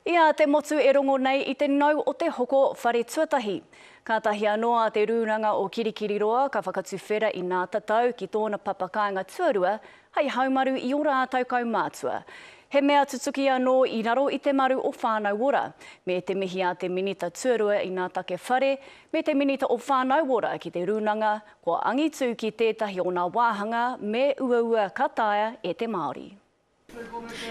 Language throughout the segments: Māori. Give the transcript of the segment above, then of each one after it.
I a te motu e rongo nei i te nau o te hoko whare tuatahi. Kātahi anō a te rūranga o Kirikiriroa ka whakatuwhera i nā tatau ki tōna papa kāinga tuarua hei haumaru i ō rātau kaumātua. He mea tutuki anō i raro i te maru o Whānau Ora, me te mihi a te Minita Tuarua i nā take whare, me te Minita o Whānau Ora ki te rūnanga kua angitū ki tētahi o nā wāhanga me uaua ka taea e te Māori.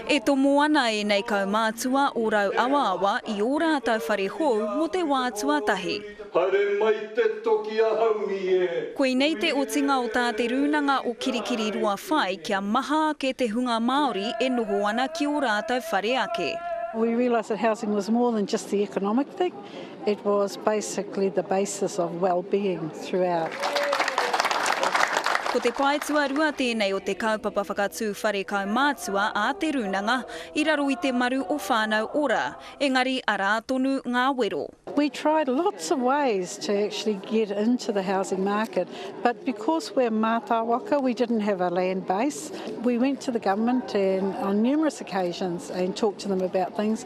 E tomo ana ēnei kaumātua o Rauawaawa i ō rātou whare hou mō te wā tuatahi. Haere mai te toki a Haumi e! Koinei te otinga o tā Te Rūnanga o Kirikiri Roa whai kia maha ake te hunga Māori e noho ana ki ō rātou whare ake. We realised that housing was more than just the economic thing. It was basically the basis of well-being throughout. Ko te pae tuarua tēnei o te kaupapa whakatū whare kaumātua a Te Rūnanga i raro i te maru o Whānau Ora, engari arā tonu ngā wero. We tried lots of ways to actually get into the housing market but because we're mātāwaka we didn't have a land base. We went to the government and on numerous occasions and talked to them about things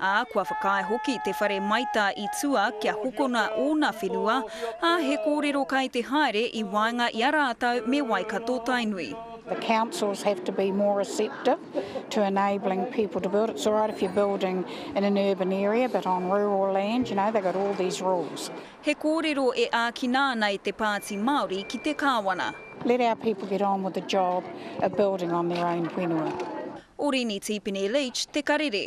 ā, kua whakaae hoki te whare maita i tua kia hokona ōna whenua, ā, he kōrero kai te haere i waenga i a rātou me Waikato-Tainui. The councils have to be more receptive to enabling people to build. It's all right if you're building in an urban area but on rural land, you know, they've got all these rules. He kōrero e ākina ana e te Pāti Māori ki te Kāwana. Let our people get on with the job of building on their own whenua. Orini Tipene Leach, Te Karere.